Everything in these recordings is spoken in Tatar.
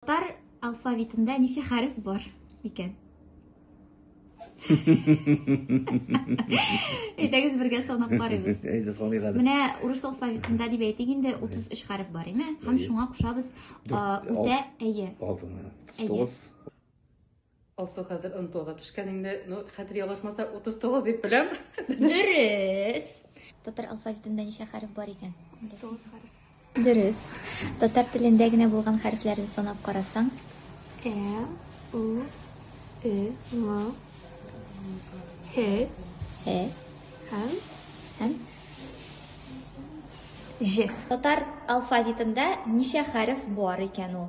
Татар алфавитында ничә хәреф бар икән? Әйдәгез бергә санап карыйбыз. Әйдә саныйк әле. Менә урыс алфавитында дип әйтик инде 33 хәреф бар, име? Һәм шуңа кушабыз үтә әйе. Алтын. 39. Алсу хәзер ынтылга төшкән инде. Ну, хәтер ялгышмаса 39 дип беләм. Дөрес. Татар алфавитында ничә хәреф бар икән? 39 хәреф. Дөрес. Татар телендә генә булган хәрефләрне санап карасаң. Э, у, э, м, һе, һе, һәм, һәм, ж. Татар алфавитында ничә хәреф бар икән ул?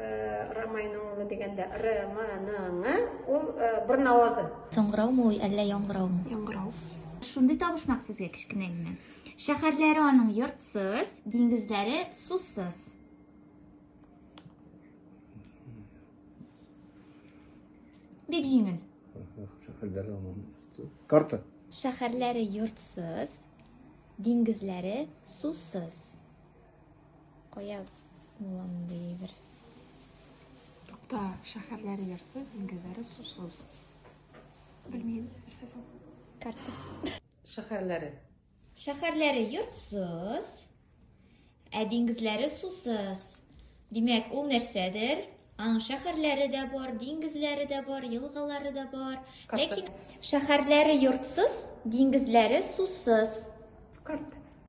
Рамайның дигәндә Раманың ул бер навазы. Соңгыраумы ул әллә яңгыраумы? Яңгырау. Шундый табышмак сезгә кечкенә генә. Шәһәрләре аның йортсыз, диңгезләре сусыз. Бик җиңел. Шәһәрләре аның карта. Шәһәрләре йортсыз, диңгезләре сусыз. Кая булам дидер. Тукта, шәһәрләре ярсыз, диңгезләре сусыз. Белмим, нәрсә соң? Карта. Шәһәрләре. Шәһәрләре йортсыз, ә диңгезләре сусыз. Димәк, ул нәрсәдер? Аның шәһәрләре дә бар, диңгезләре дә бар, елгалары да бар. Ләкин шәһәрләре йортсыз, диңгезләре сусыз. Карт.